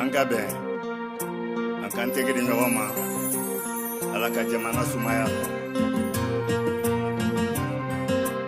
an ka bɛn an k'an tɛgɛ di ɲɔgɔn ma ala ka jamana sumaya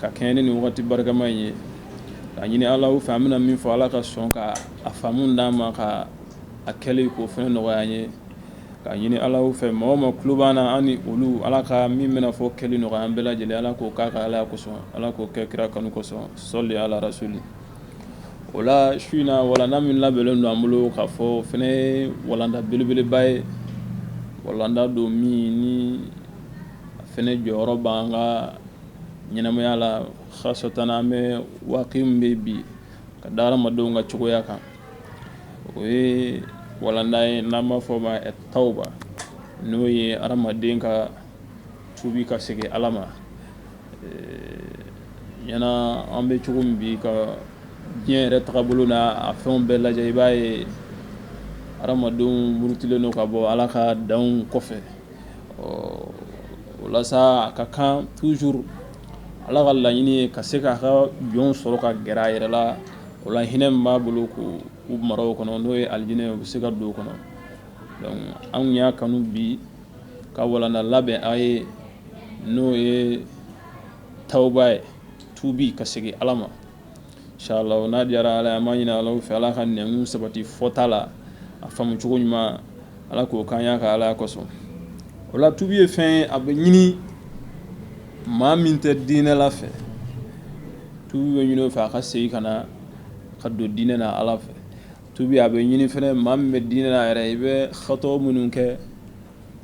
ka kɛɲɛ ni nin wagati barikama in ye k'a ɲini ala fɛ an bɛna min fɔ ala ka sɔn ka a faamu d'an ma ka a kɛli k'o fɛnɛ nɔgɔya an ye k'a ɲini ala fɛ maa o maa tulo b'an na an ni olu ala ka min bɛna fɔ kɛli nɔgɔya an bɛɛ lajɛlen ala k'o k'a ka alaya kosɔn ala k'o kɛ kira kanu kosɔn sɔli ala rasuli o la su in na walanda min labɛnnen don an bolo k'a fɔ o fɛnɛ ye walanda belebeleba ye walanda don min ni a fɛnɛ jɔyɔrɔ b'an ka ɲɛnamaya la khasatan an bɛ waati min bɛ bi ka da hadamadenw ka cogoya kan o ye walanda ye n'an b'a fɔ ma tawba n'o ye hadamaden ka tubi ka segin ala ma ɲɛna an bɛ cogo min bi ka diɲɛ yɛrɛ tagabolo n'a fɛnw bɛɛ lajɛ i b'a ye hadamadenw murutilen don ka bɔ ala ka danw kɔfɛ o la sa a ka kan toujours ala ka laɲini ye ka se k'a ka jɔn sɔrɔ ka gɛrɛ a yɛrɛ la o la hinɛ b'a bolo k'u mara o kɔnɔ n'o ye alijinɛ u bɛ se ka don o kɔnɔ donc anw y'a kanu bi ka walanda labɛn a ye n'o ye tawba ye tubi ka segin ala ma Inshallah n'a diyara ala ye an b'a ɲini ala fɛ ala ka nɛmu sabati fɔta la a faamucogo ɲuman ala k'o k'a ka alaya kosɔn o la tubi ye fɛn ye a bɛ ɲini maa min tɛ diinɛ la fɛ tubi bɛ ɲini o fɛ a ka segin ka na ka don diinɛ na ala fɛ tubi a bɛ ɲini fɛnɛ maa min bɛ diinɛ na yɛrɛ i bɛ hatɔ minnu kɛ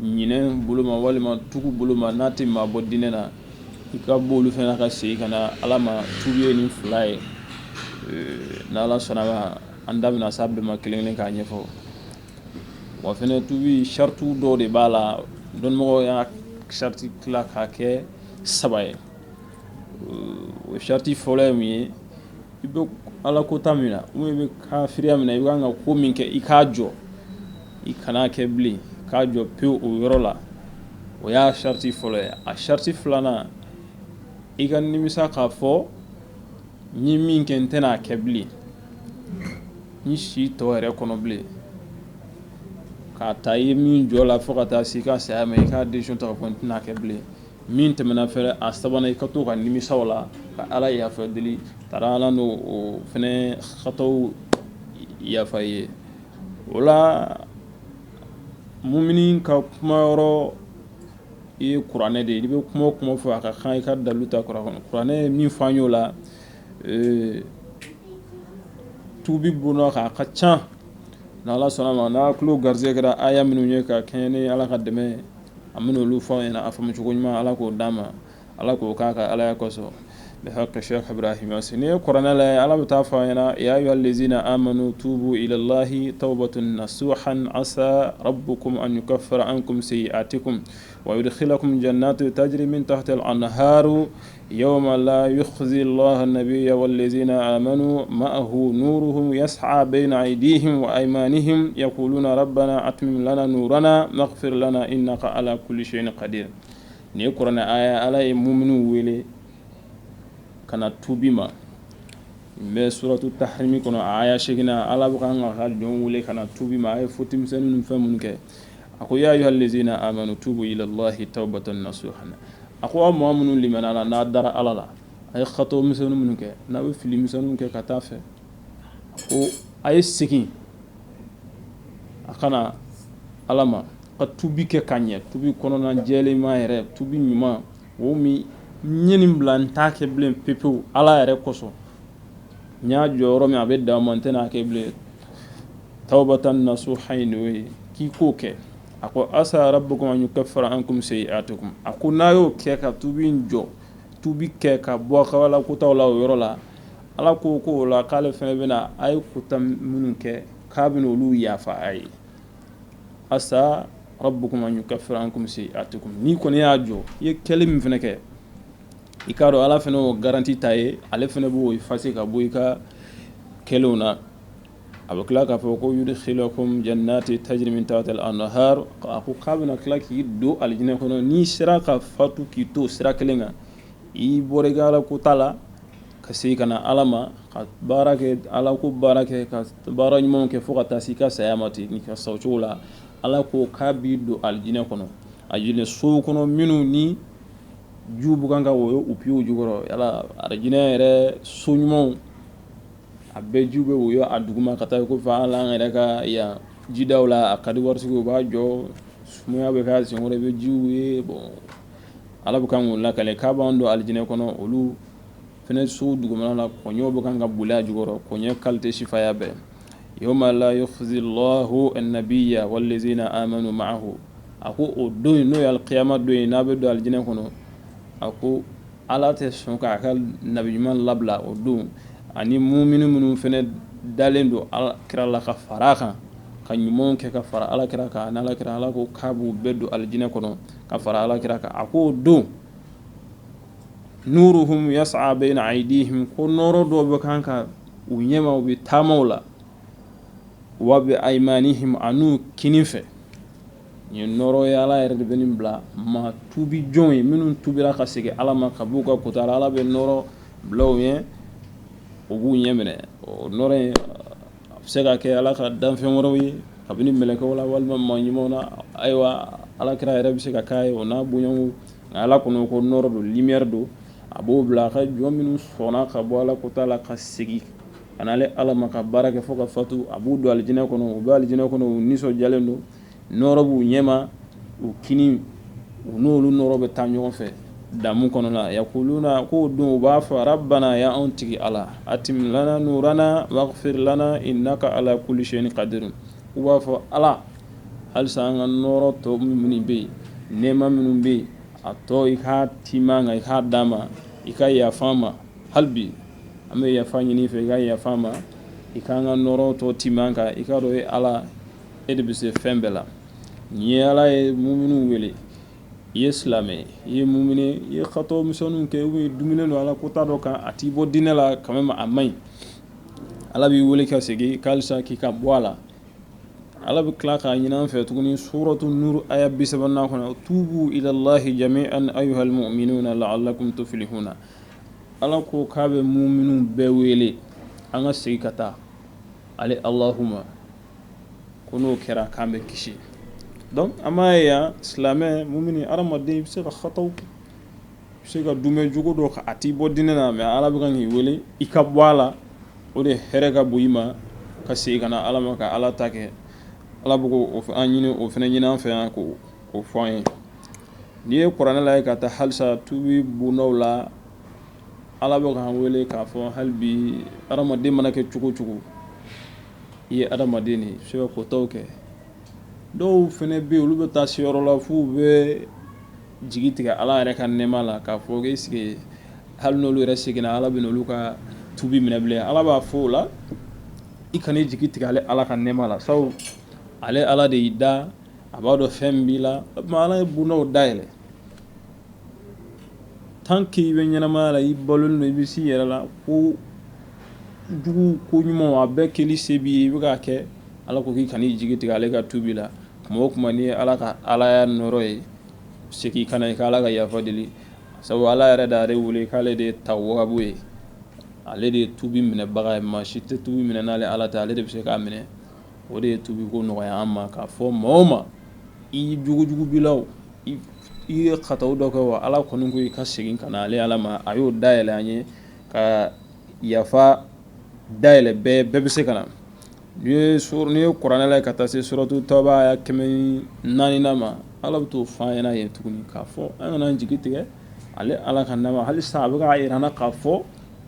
ɲinɛ bolo ma walima tugu bolo ma n'a tɛ maa bɔ diinɛ na i ka bɔ olu fɛnɛ ka segin ka na ala ma tubi ye nin fila ye n'ala sɔnna ma an da bɛna s'a bɛɛ ma kelen kelen k'a ɲɛfɔ wa fɛnɛ tubi saritiw dɔw de b'a la dɔnnimɔgɔw y'a sariti tila k'a kɛ saba ye o sariti fɔlɔ ye mun ye i bɛ ala kota min na ou bien i bɛ kafiriya min na i bɛ kan ka ko min kɛ i k'a jɔ i kana kɛ bilen k'a jɔ pe o yɔrɔ la o y'a sariti fɔlɔ ye a sariti filanan i ka nimisa k'a fɔ n ye min kɛ n tɛna a kɛ bilen n si tɔ yɛrɛ kɔnɔ bilen k'a ta i ye min jɔ la fo ka taa se i ka saya ma i ka desizɔn ta ko n tɛna a kɛ bilen min tɛmɛna fɛnɛ a sabanan i ka to ka nimisa o la ka ala yafa deli taara ala n'o o fɛnɛ hataw yafa i ye o la mumini ka kuma yɔrɔ i ye kuranɛ de i bɛ kuma o kuma fɔ a ka kan i ka dalilu ta kuranɛ min fɔ an y'o la tuubi bolo kan a ka ca ni ala sɔnna ma n'a tulo garisɛgɛ kɛra aya minnu ye ka kɛɲɛ ni ala ka dɛmɛ an bɛna olu fɔ aw ɲɛna a faamucogo ɲuman ala k'o d'an ma ala k'o k'a ka alaya kosɔn haburamasi n'i ye kɔrɔɛ la ye ala bɛ taa fɔ ɲɛna y'a y'li lezina an amadu tuubu lahi tɔwbat na su ha asa arabu kɔmi ani ka fara an kɔmimisi a tɛ kun wa wulila kɔmi jan n'a to taji min ta tɛ an na ha yɔrɔma la i bɛ la bɛ yawalelen zina a ma ma nuru ya saba bɛ na a di ma ni h ya olu na arabu banna a tun na na n' feerela i na ka ala kulisiyɛn ka di Nin ye kuranɛ aaya ye, Ala ye muminuw wele ka na tuubi ma. Nin bɛ suratu taharimi kɔnɔ a aaya seeginan, Ala bɛ k'a ka jɔnw wele ka na tuubi ma, a ye foti misɛnnin ni fɛn minnu kɛ. A ko yaa ayuha lezina amanu tuubu ilalahi tawubatan nasuhan a ko aw maa minnu limaniyala n'a dara Ala la, a ye xato misɛnnin minnu kɛ, n'a bɛ fili misɛnninw kɛ ka taa fɛ, ko a ye segin a ka na ala ma ka tubi kɛ ka ɲɛ tubi kɔnɔna jɛlenma yɛrɛ tubi ɲuman o min ɲɛ nin bila n t'a kɛ bilen pepewu ala yɛrɛ kosɔn n y'a jɔ yɔrɔ min a bɛ da ma n tɛna a kɛ bilen tawubatan nasuhan ye n'o ye k'i k'o kɛ a ko asa rabukum an yukafira ankum sayiatikum a ko n'a y'o kɛ ka tubi jɔ tubi kɛ ka bɔ kɛwale kota la o yɔrɔ la Ala ko ko o la k'ale fana bɛna na a ye kota minnu kɛ k'a bɛna olu yafa a ye asa rabukum an yukafira ankum sayiatikum n'i kɔni y'a jɔ i ye kɛlen min fana kɛ i k'a dɔn ala fana o garanti ta i ye ale fana b'o efase ka bɔ i ka kɛlenw na a bɛ tila k'a fɔ ko yudikilakum janatin tajiri min tahatiha l anhar a ko k'a bɛna tila k'i don alijinɛ kɔnɔ n'i sera ka fatu k'i to sira kelen kan i bɔra i ka kota la ka segin ka na ala ma ka baara kɛ ala ko baara kɛ ka baara ɲuman kɛ fo ka taa se i ka saya ma ten n'i ka sa o cogo la ala ko k'a b'i don alijinɛ kɔnɔ alijinɛ so kɔnɔ minnu ni jiw bɛ kan ka woyo u piyew jukɔrɔ yala alijinɛ yɛrɛ so ɲumanw a bɛɛ jiw bɛ woyo a duguma ka taa ko fa ala an yɛrɛ ka yan jidaw la a ka di waritigiw b'a jɔ sumaya bɛ ka senkɔrɔ i bɛ jiw ye bon ala bɛ kan k'o lakale k'a b'an don alijinɛ kɔnɔ olu fana so dugumana na kɔɲɔw bɛ kan ka boli a jukɔrɔ kɔɲɔ kalite sifaya bɛɛ yawma la yukhzillahu an-nabiyya wallazina amanu ma'ahu a ko o don in n'o ye alkiyama don ye n'a bɛ don alijinɛ kɔnɔ a ko ala tɛ sɔn k'a ka nabi ɲuman labila o don ani mumini minnu fana dalen don ala kira la ka fara kan ka ɲumanw kɛ ka fara ala kira kan n'ala kira ala ko k'a b'u bɛɛ don alijinɛ kɔnɔ ka fara ala kira kan a ko o don nuruhum yas'a bayna aydihim ko nɔrɔ dɔ bɛ kan ka u ɲɛma u bɛ taamaw la wa bi aymanihim an'u kinin fɛ yen nɔrɔ ye ala yɛrɛ de bɛ nin bila maa tubi jɔn ye minnu tubira ka segin ala ma ka b'u ka kota la ala bɛ nɔrɔ bila u ye o b'u ɲɛ minɛ o nɔrɔ ye A bɛ se ka kɛ ala ka danfɛn wɛrɛw ye kabini mɛlɛkɛw la walima maa ɲumanw na ayiwa ala kira yɛrɛ bɛ se ka k'a ye o n'a bonya nka ala kɔnɔ ko nɔrɔ don limiyɛri don a b'o bila a ka jɔn minnu sɔnna ka bɔ ala kota la ka segin ka n'ale ala ma ka baara kɛ fo ka fatu a b'u don alijinɛ kɔnɔ u bɛ alijinɛ kɔnɔ u nisɔndiyalen don nɔɔrɔ b'u ɲɛma u kinin u n'olu nɔɔrɔ bɛ taa ɲɔgɔn fɛ damu kɔnɔna a yakuluna k'o don u b'a fɔ rabbana ya anw tigi Ala atmim lana nuurana waghfir lana innaka ala kulli shay'in qadirun u b'a fɔ Ala halisa an ka nɔɔrɔ tɔ minnu bɛ yen nɛɛma minnu bɛ yen a tɔ i k'a tiim'an kan i k'a d'an ma i ka yafa an ma hali bi an bɛ yafa ɲini i fɛ i ka yafa an ma i k'an ka nɔɔrɔ tɔ tiim'an kan i k'a dɔn e Ala e de bɛ se fɛn bɛɛ la nin ye ala ye muminu wele i ye silamɛ i ye mumini i ye katɔ misɛnninw kɛ ye dumuni don ala kota dɔ kan a t'i bɔ diinɛ la kanmɛmu a man ɲi ala b'i wele ka segin halisa k'i ka bɔ a la ala bɛ tila k'a ɲini an fɛ tuguni suratu nuru aya bi saba kɔnɔ tuubu ilallahi jami'an ayyuhal mu'minuna la'allakum tuflihuna ala ko k'a bɛ muminu bɛɛ wele an ka segin ka taa ale alahu ma ko n'o kɛra k'an bɛ kisi donc an b'a ye yan silamɛ mumini hadamaden i bɛ se ka hataw kɛ i bɛ se ka dumɛ jugu dɔ kɛ a t'i bɔ diinɛ na mais Ala bɛ kan k'i wele i ka bɔ a la o de hɛrɛ ka bon i ma ka segin ka na Ala ma ka Ala ta kɛ Ala bɛ k'o an ɲini o fana ɲini an fɛ yan k'o fɔ an ye n'i ye kuranɛ lajɛ ka taa halisa tubi bondaw la Ala bɛ k'an wele k'a fɔ hali bi hadamaden mana kɛ cogo o cogo i ye adamaden de ye i bɛ se ka kɔtaw kɛ dɔw fana bɛ yen olu bɛ taa se yɔrɔ la f'u bɛ jigi tigɛ ala yɛrɛ ka nɛɛma la k'a fɔ est-ce que hali n'olu yɛrɛ seginna ala bɛ n'olu ka tubi minɛ bilen ala b'a fɔ o la i kan'i jigi tigɛ ale ala ka nɛɛma la sabu ale ala de y'i da a b'a dɔn fɛn min b'i la ala ye bondaw dayɛlɛ tant qu'i bɛ ɲɛnamaya la i balolen don i bɛ s'i yɛrɛ la ko jugu ko ɲuman a bɛɛ kɛli se b'i ye i bɛ k'a kɛ ala ko k'i kana i jigi tigɛ ale ka tubi la tuma o tuma n'i ye ala ka alaya nɔɔrɔ ye segin ka na i ka ala ka yafa deli sabu ala yɛrɛ d'a yɛrɛ wele k'ale de ye tawwabu ye ale de ye tubi minɛbaga ye maa si tɛ tubi minɛ n'ale ala tɛ ale de bɛ se k'a minɛ o de ye tubi ko nɔgɔya an ma k'a fɔ maa o maa i jugujugu b'i la o I ye kataw dɔ kɛ wa ala kɔni ko i ka segin ka na ale ala ma a y'o dayɛlɛ an ye ka yafa dayɛlɛ bɛɛ bɛ se ka na n'i ye kuranɛ lajɛ ka taa se suratu tawba aya kɛmɛ naani ma ala bɛ t'o fɔ an ɲɛna yen tuguni k'a fɔ an kana jigi tigɛ ale ala ka nɛɛma hali sisan a bɛ k'a jira an na k'a fɔ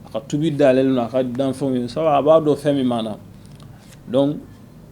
a ka tubi dayɛlɛlen don a ka danfɛnw ye sabu a b'a dɔn fɛn min b'an na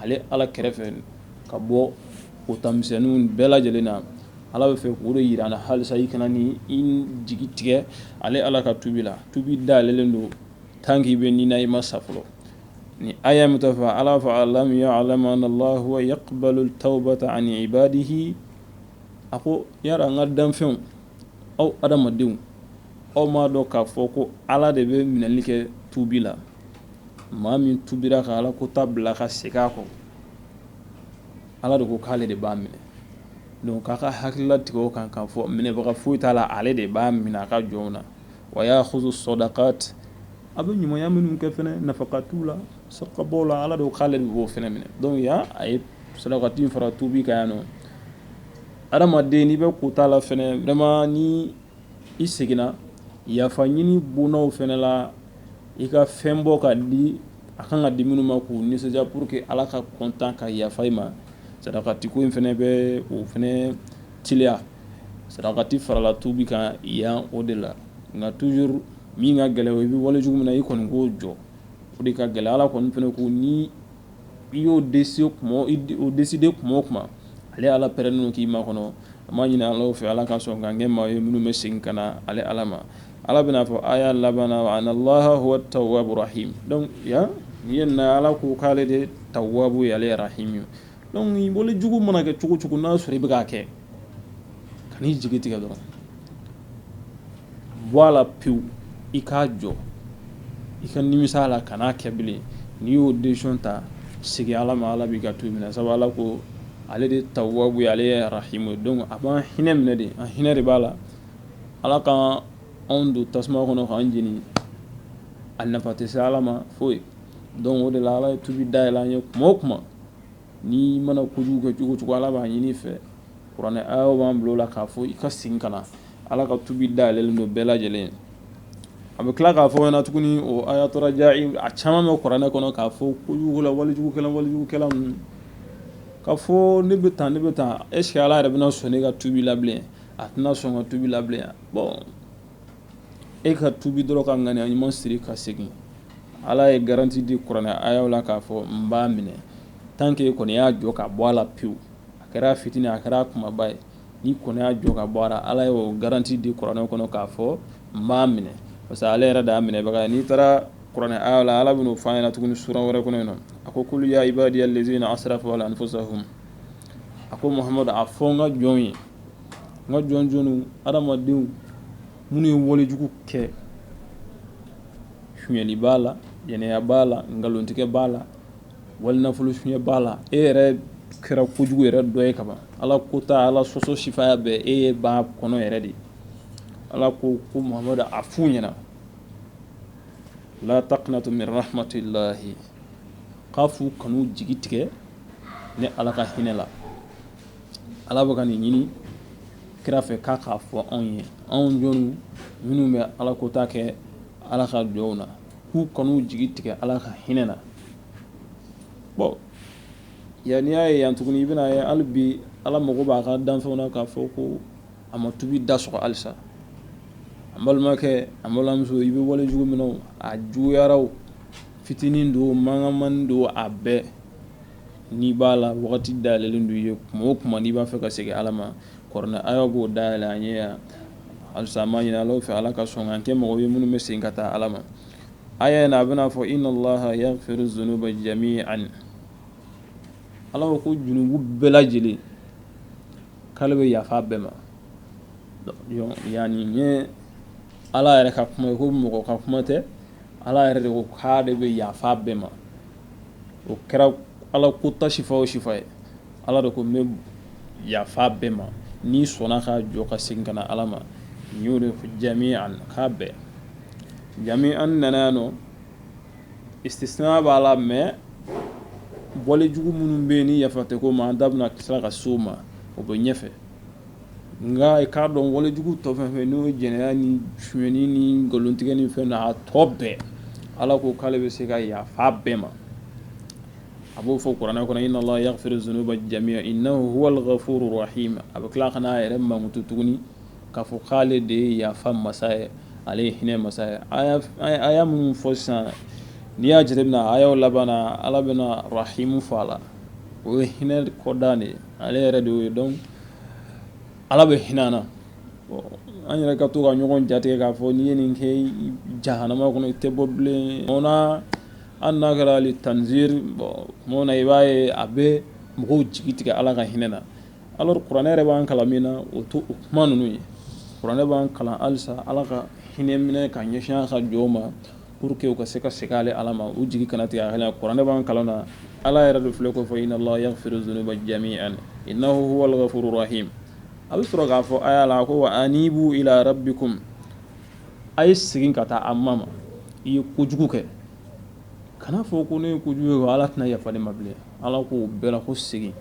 ale ala kɛrɛfɛ ka bɔ kota misɛnninw bɛɛ lajɛlen na ala bɛ fɛ k'o de jira an na halisa i kana n'i jigi tigɛ ale ala ka tubi la tubi dayɛlɛlen don tant qu'i bɛ ni na i ma sa fɔlɔ ni aya min ta fɔ ala fɔ alam ya'lamu anna allaha huwa yaqbalu tawbata an ibadihi a ko yara an ka danfɛnw aw adamadenw aw m'a dɔn k'a fɔ ko ala de bɛ minɛli kɛ tubi la maa min tubira ka a la kota bila ka segin a kɔ ala de ko k'ale de b'a minɛ donc k'a ka hakili latigɛ o kan k'a fɔ minɛbaga foyi t'a la ale de b'a minɛ a ka jɔnw na wa ya'khuzu sadakat a bɛ ɲumanya minnu kɛ fɛnɛ nafakatiw la sarakabaw la ala de ko k'ale de b'o fɛnɛ minɛ donc yan a ye sadakati in fara tubi kan yan nɔ adamaden n'i bɛ kota la fɛnɛ vraiment ni i seginna yafa ɲini bonnaw fɛnɛ la i ka fɛn bɔ ka di a kan ka di minnu ma k'u nisɔndiya pour que ala ka content ka yafa i ma sarakati ko in fɛnɛ bɛ o fɛnɛ teliya sarakati farala tubi kan yan o de la nka toujours min ka gɛlɛn i bɛ wale jugu min na i kɔni k'o jɔ o de ka gɛlɛn ala kɔni fɛnɛ ko ni i y'o de o décider kuma o kuma ale ala pɛrɛlen k'i makɔnɔ an b'a ɲini ala fɛ ala ka sɔn k'an kɛ maa ye minnu bɛ segin ka na ale ala ma ala bɛn'a fɔ aya laban na wa anna llaha huwa tawwabu rahim donc yan nin ye na ala ko k'ale de tawwabu ye ale ye rahimi donc walejugu mana kɛ cogo cogo n'a sɔrɔ i bɛ k'a kɛ kan'i jigi tigɛ dɔrɔn bɔ a la pewu i k'a jɔ i ka nimisa a la kan'a kɛ bilen n'i y'o décision ta segin ala ma ala b'i ka tubi minɛ sabu ala ko ale de tawwabu ye ale ye rahimi donc a b'an hinɛ minɛ de an hinɛ de b'a la ala ka anw don tasuma kɔnɔ k'an jeni a nafa tɛ se ala ma foyi donc o de la ala ye tubi dayɛlɛ an ye kuma o kuma N'i mana kojugu kɛ cogo cogo ala b'a ɲini i fɛ kuranɛ ayaw b'an bila o la k'a fɔ i ka segin ka na ala ka tubi dayɛlɛlen don bɛɛ lajɛlen a bɛ tila k'a fɔ an ɲɛna tuguni o aya tɔgɔja a caman bɛ kuranɛ kɔnɔ k'a fɔ kojugu la walejugu walejugukɛla ninnu k'a fɔ ne bɛ tan ne bɛ tan est ce que ala yɛrɛ bɛna sɔn ne ka tubi la a tɛna sɔn ka tubi la bon e ka tubi dɔrɔn ka ŋaniya ɲuman siri ka segin ala ye garanti di kuranɛ ayaw la k'a fɔ n b'a minɛ tant qu'i kɔni y'a jɔ ka bɔ a la pewu a kɛra fitini a kɛra kumaba ye n'i kɔni y'a jɔ ka bɔ a la ala y'o garanti di kuranɛ kɔnɔ k'a fɔ n b'a minɛ parce que ale yɛrɛ de y'a minɛbaga ye n'i taara kuranɛ ayaw la ala bɛn'o fɔ an ɲɛna tuguni sura wɛrɛ kɔnɔ yen nɔ a ko kulu ya ibadiya lezina asrafu ala anfusahum a ko muhamadu a fɔ n ka jɔn ye n ka jɔn jɔnw adamadenw minnu ye walejugu kɛ sonyali b'a la jɛnɛya b'a la nkalontigɛ b'a la wali nafolo suɲɛ b'a la e yɛrɛ kɛra kojugu yɛrɛ dɔ ye kaban ala kota ala sɔsɔ sifaya bɛɛ e ye ba kɔnɔ yɛrɛ de ye ala ko ko muhamadu a f'u ɲɛna la taqnatu min rahmatillahi k'a f'u kan'u jigi tigɛ ne ala ka hinɛ la Ala bɛ ka nin ɲini kira fɛ k'a k'a fɔ anw ye anw jɔnw minnu bɛ ala kota kɛ ala ka jɔnw na k'u kan'u jigi tigɛ ala ka hinɛ na yan n'i y'a ye yan tuguni i bɛn'a ye hali bi ala mago b'a ka danfɛnw na k'a fɔ ko a ma tubi da sɔgɔ halisa an balimakɛ an balimamuso i bɛ wale jugu min na a juguyara o fitinin don mankan man don a bɛɛ n'i b'a la wagati dayɛlɛlen don i ye kuma o kuma n'i b'a fɛ ka segin Ala ma kuranɛ aayaw b'o dayɛlɛ an ye yan halisa an b'a ɲini Ala fɛ Ala ka sɔn k'an kɛ mɔgɔw ye minnu bɛ segin ka taa Ala ma aaya in na a bɛn'a fɔ inna Allaha yaghfiru zunuba jami'an Ala ko ko junubu bɛɛ lajɛlen k'ale bɛ yafa bɛɛ ma yan nin ye Ala yɛrɛ ka kuma ye ko mɔgɔ ka kuma tɛ Ala yɛrɛ de ko k'ale bɛ yafa bɛɛ ma o kɛra ala ko ta sifa o sifa ye ala de ko n bɛ yafa bɛɛ ma n'i sɔnna ka jɔ ka segin ka na ala ma n y'o de ko jami'an k'a bɛɛ jami'an an nana yan nɔ istisna b'a la mais bɔli jugu minnu bɛ yen ni yafa tɛ k'u ma an da bɛna tila ka s'o ma o bɛ ɲɛfɛ nka i k'a dɔn walejugu tɔ fɛn fɛn n'o ye jɛnɛya ni sonyani ni nkalontigɛ ni fɛn na a tɔ bɛɛ ala ko k'ale bɛ se ka yafa bɛɛ ma a b'o fɔ kuranɛ kɔnɔ inna allaha yaghfiru dhunuba jami'a innahu huwal ghafurur rahim a bɛ tila ka n'a yɛrɛ mankutu tuguni k'a fɔ k'ale de ye yafa masa ye ale ye hinɛ masa ye aya minnu fɔ sisan n'i y'a jateminɛ ayaw laban na ala bɛna arahimu fɔ a la o ye hinɛ kɔdan de ye ale yɛrɛ de y'o ye donc ala bɛ hinɛ an na an yɛrɛ ka to ka ɲɔgɔn jatigɛ k'a fɔ n'i ye nin kɛ jahanama kɔnɔ i tɛ bɔ bilen an n'a kɛra ali tanzir bon i b'a ye a bɛ mɔgɔw jigi tigɛ ala ka hinɛ na alors kuranɛ yɛrɛ b'an kalan min na o to o kuma ninnu ye kuranɛ b'an kalan halisa ala ka hinɛ minɛ ka ɲɛsin a ka jɔnw ma pour que u ka se ka segin ale ala ma u jigi kana tigɛ a kan kuranɛ b'an kalan na ala yɛrɛ de filɛ k'o fɔ inna allaha yaghfiru dhunuba jami'an innahu huwal ghafurur rahim a bɛ sɔrɔ k'a fɔ aya la ko wa anibu ila rabbikum a ye segin ka taa a ma ma i ye kojugu kɛ kana fɔ ko ne ye kojugu kɛ ala tɛna yafa ne ma bilen ala k'o bɛɛ la ko segin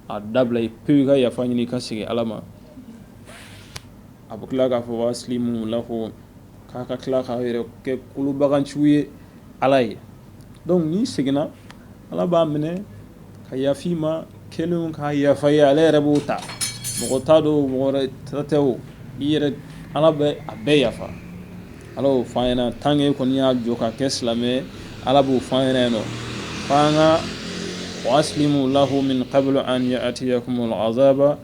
a dabila pewu i ka yafa ɲini i ka segin ala ma a bɛ tila k'a fɔ wa aslimu lahu k'a ka tila k'a yɛrɛ kɛ kolobaganciw ye ala ye donc n'i seginna ala b'a minɛ ka yaf'i ma kelen ka yafa ye ale yɛrɛ b'o ta mɔgɔ t'a dɔn mɔgɔ tɛ o i yɛrɛ ala bɛ a bɛɛ yafa ala y'o f'an ɲɛna tant que kɔni y'a jɔ ka kɛ silamɛ ala b'o f'an ɲɛna yen nɔ ko wa aslimu lahu min qabli an ya'tiyakumul azaba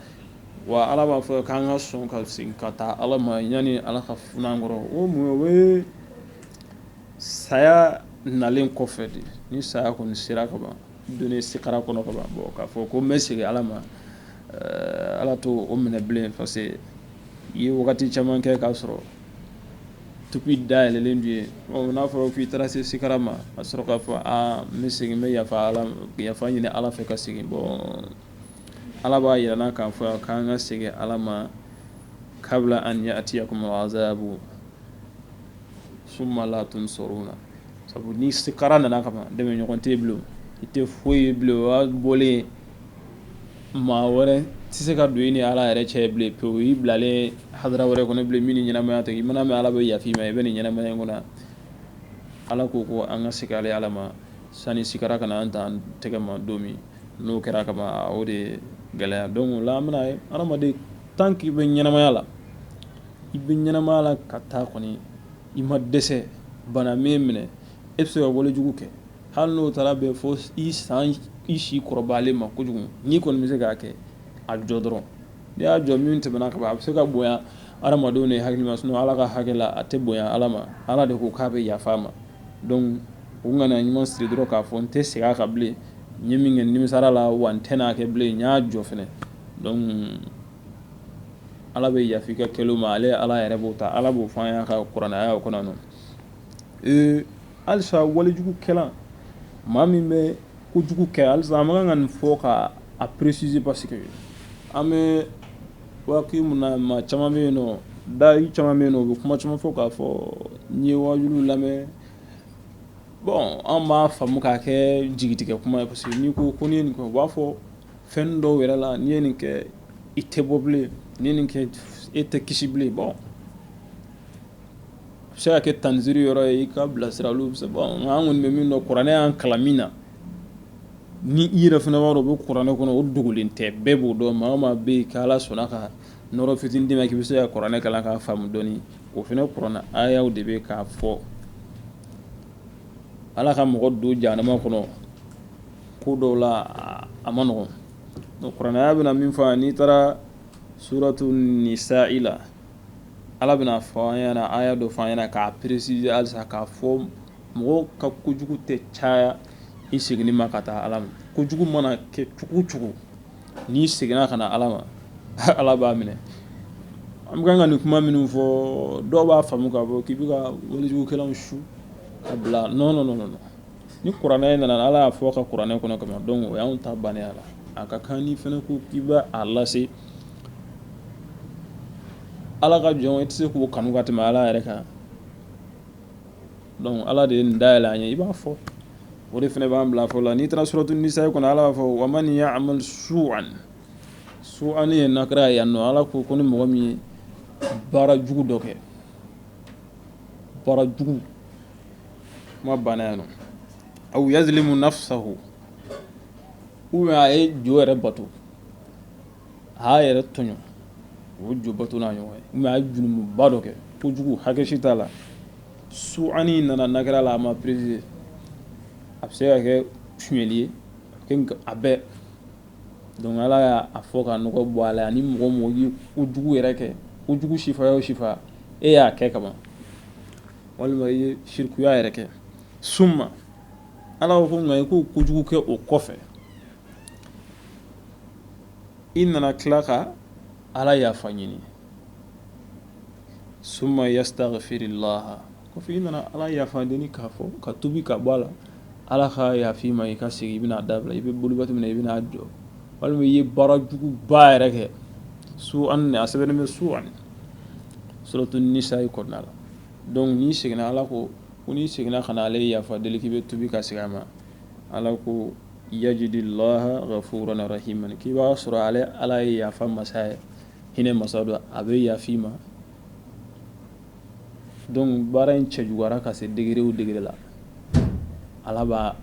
wa ala b'a fɔ k'an ka sɔn ka segin ka taa ala ma yanni ala ka fun'an kɔrɔ o mun o ye saya nalen kɔfɛ de ni saya kɔni sera ka ban don sikara kɔnɔ ka ban bon k'a fɔ ko n bɛ segin ala ma eh, ala t'o minɛ bilen parce que i ye wagati caman kɛ k'a sɔrɔ tuubi da yɛlɛlen don i ye n'a fɔra k'i taara se sikara ma a sɔrɔ k'a fɔ a n bɛ segin n bɛ yafa yafa ɲini ala fɛ ka segin bon Ala b'a jira an na k'a fɔ k'an ka segin ala ma kabila an yatiyakumu azabu suma la tunsaruna sabu ni sikara nana ka ban dɛmɛɲɔgɔn tɛ bilen i tɛ foyi ye bilen o y'a bɔlen maa wɛrɛ tɛ se ka don i ni ala yɛrɛ cɛ bilen pewu i bilalen hadara wɛrɛ kɔnɔ bilen min ɲɛnamaya tɛ i mana bɛ ala bɛ yafa i ma i bɛ nin ɲɛnamaya in kɔnɔ ala ko ko an ka segin ala ma sani sikara ka an dan tɛgɛ ma don min N'o kɛra ka ban o de gɛlɛya dɔnku o la an bɛna ye adamaden tant que i bɛ ɲɛnɛmaya la i bɛ ɲɛnɛmaya la ka taa kɔni i ma dɛsɛ bana min minɛ e bɛ se ka walejugu kɛ hali n'o taara bɛn fo i san i si kɔrɔbayalen ma kojugu n'i kɔni bɛ se k'a kɛ a jɔ dɔrɔn n'i y'a jɔ min tɛmɛna ka ban a bɛ se ka bonya hadamadenw de hakili ma sinon ala ka hakɛ la a tɛ bonya ala ma ala de ko k'a bɛ yafa ma dɔnku ŋaniya ɲuman siri dɔrɔn k'a fɔ n tɛ segin a kan bilen n ye min kɛ n nimisara a la wa n tɛ n'a kɛ bilen n y'a jɔ fana ala bɛ yafa i ka kɛlen ma ale ala yɛrɛ b'o ta ala b'o fɔ an y'a ka kuranɛ aya kɔnɔ ee alisa walijugukɛla maa min bɛ kojugu kɛ alisa an man kan ka nin fɔ ka a peresize parce que an bɛ Waati min na maa caman bɛ yen dayi caman bɛ yen u bɛ kuma caman fɔ k'a fɔ n ye wajuliw lamɛn bɔn an b'a faamu k'a kɛ jigitigɛ kuma ye parce que n'i ko n'i ye nin kɛ u b'a fɔ fɛn dɔw yɛrɛ la n'i ye nin kɛ i tɛ bɔ bilen n'i ye nin kɛ e tɛ kisi bilen bɔn a bɛ se ka kɛ tanziri yɔrɔ ye i ka bilasira olu bɛ an kɔni bɛ min dɔn kuranɛ y'an kalan min na Ni i yɛrɛ fana b'a dɔn o bɛ kuranɛ kɔnɔ o dogolen tɛ bɛɛ b'o dɔn maa o maa bɛ yen ala sɔnna ka nɔɔrɔ fitinin d'i ma k'i bɛ se ka kuranɛ kalan k'a faamu dɔɔni o fana kuranɛ ayaw de bɛ k'a fɔ ala ka mɔgɔ don jahanama kɔnɔ ko dɔw la a man nɔgɔn kuranɛ aya bɛna min fɔ n'i taara suratu nisayi la ala bɛna fɔ an ɲɛna aya dɔ fɔ an ɲɛna k'a peresize alisa k'a fɔ Mɔgɔw ka kojugu tɛ caya i seginni ma ka taa ala ma kojugu mana kɛ cogo cogo n'i seginna ka na ala ma ala b'a minɛ an bɛ kan ka nin kuma minnu fɔ dɔw b'a faamu k'a fɔ k'i bɛ ka walijugukɛlaw su ka bila nɔn nɔn ni kuranɛ nana ala y'a fɔ a ka kuranɛ kɔnɔ kama dɔnku o y'an ta bannen a la a ka kan ni fana ko k'i bɛ a lase ala ka jɔn i tɛ se k'o kanu ka tɛmɛ ala yɛrɛ kan donc ala de ye nin da yɛlɛ an ye i b'a fɔ o de fana b'an bila fɔ la n'i taara suratu nisa kɔnɔ ala b'a fɔ wa man ya'mal su'an su'an ye nakira ye yan nɔ ala ko ko ni mɔgɔ min ye baara jugu dɔ kɛ baara jugu kuma banna yan nɔ aw yazlimu nafsahu ou bien a ye jo yɛrɛ bato a y'a yɛrɛ tɔɲɔ o jo bato n'a ɲɔgɔn ye ou bien a ye junumuba dɔ kɛ kojugu hakɛ si t'a la su'an nana nakira la a ma préciser a bɛ se ka kɛ suɲɛli ye a bɛɛ donc ala y'a fɔ ka nɔgɔ bɔ a la ani mɔgɔ o mɔgɔ ye kojugu yɛrɛ kɛ kojugu sifaya o sifaya e y'a kɛ kaban walima i ye sirikuya yɛrɛ kɛ summa ala ko nka i k'o kojugu kɛ o kɔfɛ i nana tila ka ala yafa ɲini summa yastaghfirillaha kɔfɛ i nana ala yafa deli k'a fɔ ka tubi ka bɔ a la ala ka yaf'i ma i ka segin i bɛn'a dabila i bɛ boli waati min na i bɛna jɔ walima i ye baara juguba yɛrɛ kɛ su'an a sɛbɛnnen bɛ su'an suratu nisa'i kɔnɔna la donc n'i seginna ala ko ko n'i seginna ka na ale yafa deli k'i bɛ tubi ka segin a ma ala ko yajidillaha ghafuran rahiman k'i b'a sɔrɔ ale ala ye yafa masa ye hinɛ masa don a bɛ yaf'i ma donc baara in cɛjuguyara ka se degré o degré la ala b'a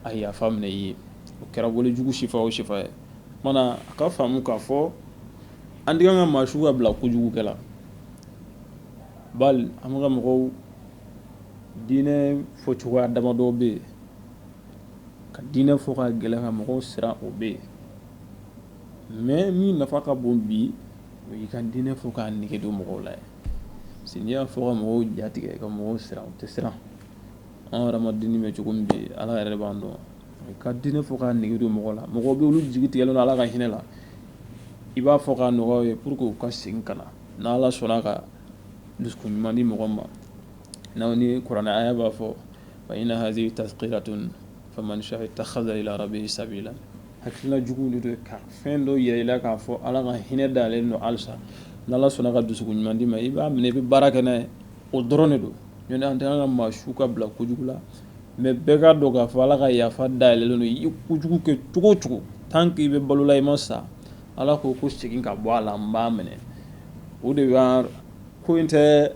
a yafa minɛ i ye o kɛra wale jugu sifa o sifa ye mana a ka faamu k'a fɔ an tɛ kan ka maa su ka bila kojugu kɛ la bali an ka mɔgɔw diinɛ fɔcogoya damadɔ bɛ yen ka diinɛ fɔ ka gɛlɛn ka mɔgɔw siran o bɛ yen mais min nafa ka bon bi o y'i ka diinɛ fɔ k'a nege don mɔgɔw la parce n'i y'a fɔ ka mɔgɔw jatigɛ ka mɔgɔw siran u tɛ siran an yɛrɛ ma diinɛ bɛ cogo min bɛ yen ala yɛrɛ b'an dɔn ka diinɛ fɔ k'a nege don mɔgɔw la mɔgɔw bɛ olu jigi tigɛlen don ala ka hinɛ la i b'a fɔ k'a nɔgɔya ye pour que u ka segin ka na n'ala sɔnna ka dusukun ɲuman di mɔgɔ ma ni kuranɛ aya b'a fɔ fa inna hazihi tazkiratun faman sha'a ittakhaza ila rabbihi sabila hakililajigin de don ka fɛn dɔ yira i la k'a fɔ ala ka hinɛ da yɛlɛlen don halisa n'ala sɔnna ka dusukun ɲuman d'i ma i b'a minɛ i bɛ baara kɛ n'a ye o dɔrɔn de don ɲɔntɛ an tɛ ka maa su ka bila kojugu la mais bɛɛ k'a dɔn k'a fɔ ala ka yafa da yɛlɛlen don i ye kojugu kɛ cogo o cogo tant qu'i bɛ balo la i ma sa Ala ko segin ka bɔ a la n b'a minɛ o de ko in tɛ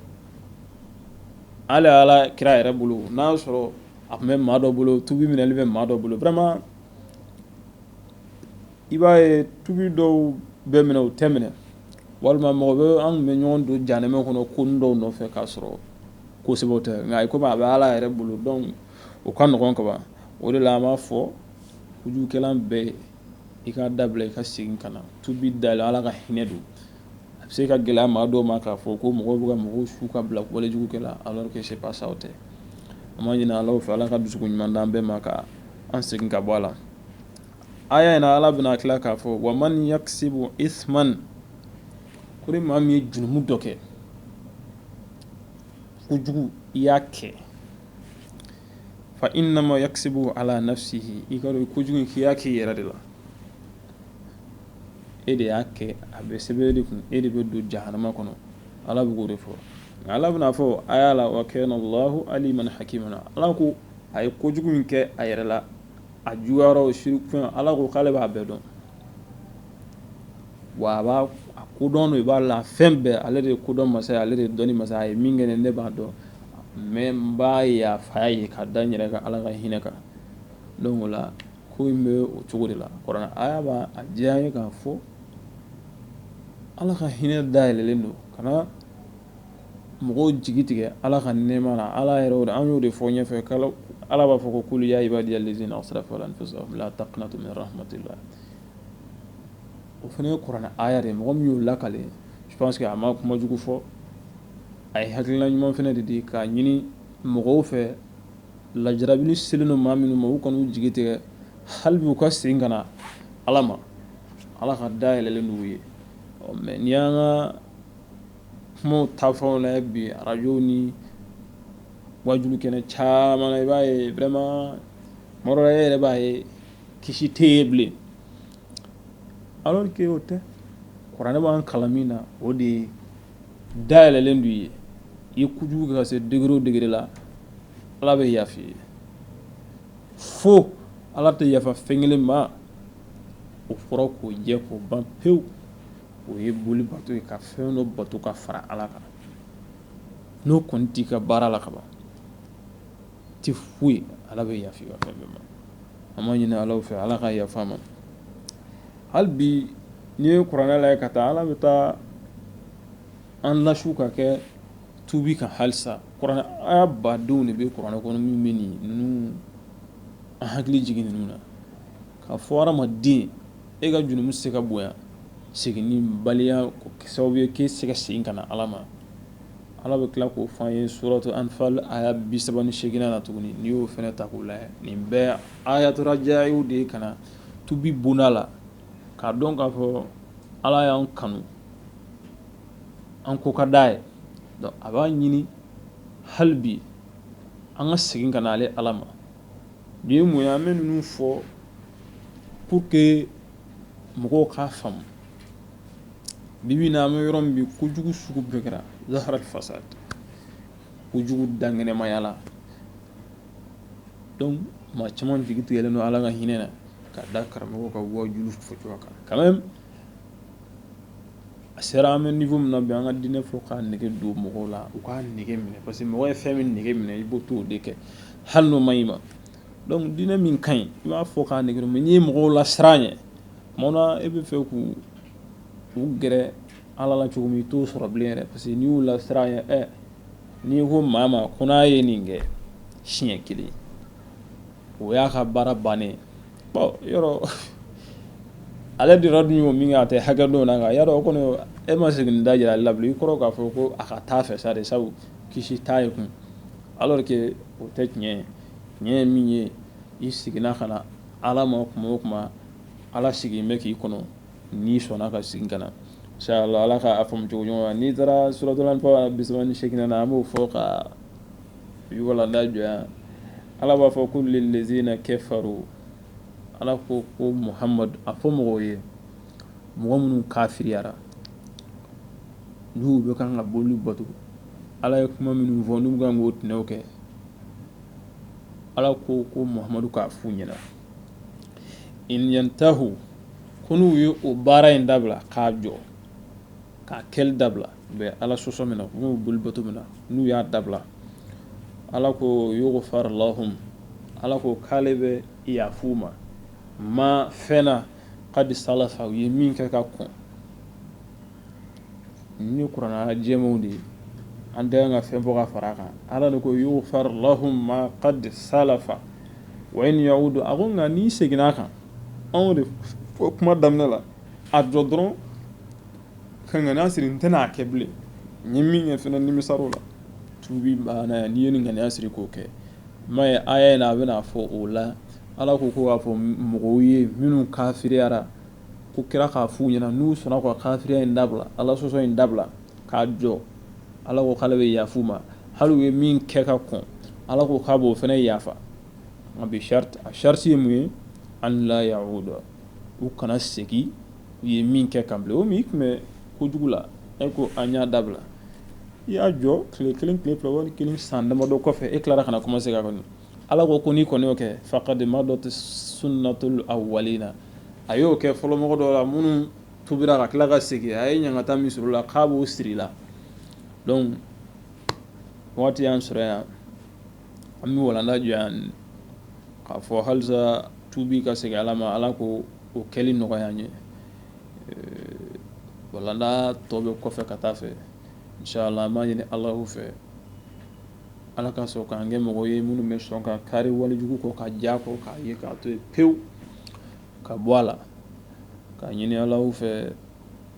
hali ala kira yɛrɛ bolo n'a y'a sɔrɔ a tun bɛ maa dɔ bolo tubi minɛ bɛ maa dɔ bolo vraiment i b'a ye tubi dɔw bɛ minɛ o tɛ minɛ walima mɔgɔ bɛ an tun bɛ ɲɔgɔn don janɛmɛ kɔnɔ ko dɔw nɔfɛ k'a sɔrɔ kosɛbɛ tɛ nka komi a bɛ ala yɛrɛ bolo donc o ka nɔgɔn kaban o de la an b'a fɔ kojugukɛla bɛɛ ye i k'a dabila i ka segin ka na tubi da la ala ka hinɛ don a bɛ se ka gɛlɛya maa dɔw ma k'a fɔ ko mɔgɔw bɛ ka mɔgɔw su ka bila walejugu kɛ la alors que c'est pas ça o tɛ an b'a ɲini ala fɛ ala ka dusu ɲuman d'an bɛɛ ma ka an segin ka bɔ a la aya in na ala bɛna tila k'a fɔ wa man yakisibu isman ko ni maa min ye jurumu dɔ kɛ kojugu i y'a kɛ fa innama yakisibu ala nafsihi i k'a dɔn kojugu in k'i y'a k'i yɛrɛ de la e de y'a kɛ a bɛ sɛbɛn e de kun e de bɛ don jahanama kɔnɔ ala bɛ k'o de fɔ nka ala bɛn'a fɔ aya la wa kana llahu aliman hakima ala ko a ye kojugu in kɛ a yɛrɛ la a juguyara siri ala ko k'ale b'a bɛɛ dɔn Wa a b'a ko dɔn i b'a la fɛn bɛɛ ale de ye kodɔn masa ye ale de ye dɔnni masa ye a ye min kɛ ne b'a dɔn mais n b'a yafa a ye ka da n yɛrɛ ka ala ka hinɛ kan donc o la ko in bɛ o cogo de la kuranɛ aya b'a jɛya an ye k'a fɔ ala ka hinɛ dayɛlɛlen don ka mɔgɔw jigi tigɛ ala ka nɛma na ala yɛrɛ an y'o de fɔ ɲɛfɛ kalo ala b'a fɔ ko kul ya ibadiya lazina asrafu ala anfusihim la taqnatu min rahmatillah o fana ye kuranɛ aya de mɔgɔ min y'o lakali je pense que a ma kuma jugu fɔ a ye hakilila ɲuman fana de di k'a ɲini mɔgɔw fɛ lajarabi selen don maa minnu ma u kan'u jigi tigɛ hali bi u ka segin ka na ala ma ala ka da yɛlɛlen d'u ye mais n'i y'an ka kumaw tafɛnw lajɛ bi arajo ni wajulu kɛnɛ caman na i b'a ye vraiment tuma dɔ la e yɛrɛ b'a ye kisi tɛ ye bilen alors que o tɛ kuranɛ b'an kalan min na o de ye da yɛlɛlen d'u ye i kojugu ka se degré o degré la ala bɛ yafa i ye fo ala tɛ yafa fɛn kelen ma o fɔra k'o jɛ k'o ban pewu o ye boli bato ye ka fɛn dɔ bato ka fara ala kan n'o kɔni t'i ka baara la kaban tɛ foyi ye ala bɛ yafa i ka fɛn bɛɛ ma an b'a ɲini ala fɛ ala ka yafa an ma hali bi n'i ye kuranɛ lajɛ ka taa ala bɛ taa an lasu ka kɛ tubi kan halisa kuranɛ aya badenw de bɛ kuranɛ kɔnɔ min bɛ nin ninnu an hakili jigin ninnu na k'a fɔ hadamaden e ka jurumu se ka bonya seginnibaliya sababu ye k'e se ka segin ka na ala ma ala bɛ tila k'o fɔ an ye suratu anfal aya bisaba ni seginnan na tuguni n'i y'o fɛnɛ ta k'o lajɛ nin bɛɛ ayatu rajayiw de ye ka na tubi bonda la k'a dɔn k'a fɔ ala y'an kanu an ko ka d'a ye a b'a ɲini hali bi an ka segin ka na ale ala ma Nin ye mun ye an bɛ ninnu fɔ pour que mɔgɔw k'a faamu bi bi in na an bɛ yɔrɔ min bi kojugu sugu bɛɛ kɛra zaharal fasad kojugu dankɛnɛmayala donc maa caman jigi tigɛlen don ala ka hinɛ na ka da karamɔgɔw ka wajulu fɔcogoya kan quand même a sera an bɛ niveau min na bi an ka diinɛ fɔ k'a nege don mɔgɔw la u k'a nege minɛ parce que mɔgɔ ye fɛn min nege minɛ i b'o to o de kɛ hali n'o man ɲi ma donc diinɛ min ka ɲi i b'a fɔ k'a nege don mais n'i ye mɔgɔw lasiran a ɲɛ bon e b'a fɛ k'u gɛrɛ ala la cogo min i t'o sɔrɔ bilen yɛrɛ parce que n'i y'u lasiran a ɲɛ n'i ko maa ma ko n'a ye nin kɛ siɲɛ kelen o y'a ka baara bannen yɔrɔ ale de dun ye min kɛ a tɛ hakɛ dɔn na ya o kɔni e ma segin da jira a la i kɔrɔ k'a fɔ ko a ka taa fɛ sa de sabu kisi t'a ye kun alors que o tɛ tiɲɛ ye tiɲɛ ye min ye i seginna ka na ala ma tuma o tuma ala sigilen bɛ k'i kɔnɔ n'i sɔnna ka segin ka na inshallah k'a faamu cogo ɲuman na n'i taara suratul anfal bisaba ni seginnan na an b'o fɔ ka Jɔ ala b'a fɔ qul lillazina kafaru ala ko ko muhamadu a fɔ mɔgɔw ye mɔgɔ minnu kafiriyara n'u bɛ kan ka boli bato ala ye kuma minnu fɔ n'u bɛ kan k'o tɛnɛw kɛ ala ko ko muhamadu k'a f'u ɲɛna in yantahu ko n'u ye o baara in dabila k'a jɔ k'a kɛli dabila u bɛ ala sɔsɔ min na u bɛ boli bato min na n'u y'a dabila ala ko yughfar lahum ala ko k'ale bɛ yaf'u ma ma fɛn na qad salafa u ye min kɛ ka kɔn nin kurana jɛmanw de ye an tɛ ka fɛn bɔ ka fara a kan ala de ko yughfar lahum ma qad salafa wa in yawudu a ko nka n'i seginna a kan an y'o de fɔ kuma daminɛ la a jɔ dɔrɔn ka ŋaniya siri n tɛna a kɛ bilen n ye min kɛ fɛnɛ nimisar'o la tubi banna yan n'i ye nin ŋaniya siri k'o kɛ m'a ye aya in na a bɛna fɔ o la ala ko ko k'a fɔ mɔgɔw ye minnu kafiriyara ko kira k'a f'u ɲɛna n'u sɔnna ka kafiriya in dabila ala sɔsɔ in dabila k'a jɔ ala ko k'ale bɛ yaf'u ma hali u ye min kɛ ka kɔn ala ko k'a b'o fɛnɛ yafa nka bi sarati a sarati ye mun ye an la yauda u kana segin u ye min kɛ kan bilen o min i tun bɛ kojugu la e ko an y'a dabila i y'a jɔ tile kelen tile fila kalo kelen san damadɔ kɔfɛ e tilara ka na commencer ka kɔni ala ko ko n'i kɔni y'o kɛ faqad madat sunnatul awwalina a y'o kɛ fɔlɔmɔgɔ dɔw la minnu tubira ka tila ka segin a ye ɲangata min sɔrɔ ala k'an b'o siri la donc waati y'an sɔrɔ yan an bɛ walanda jɔ yan k'a fɔ halisa tubi ka segin ala ma ala k'o kɛli nɔgɔya an ye walanda tɔ bɛ kɔfɛ ka taa fɛ inshallah an b'a ɲini alahu fɛ ala ka sɔn k'an kɛ mɔgɔ ye minnu bɛ sɔn ka kari walejugu kɔ ka ja kɔ k'a ye k'a to yen pewu ka bɔ a la k'a ɲini alahu fɛ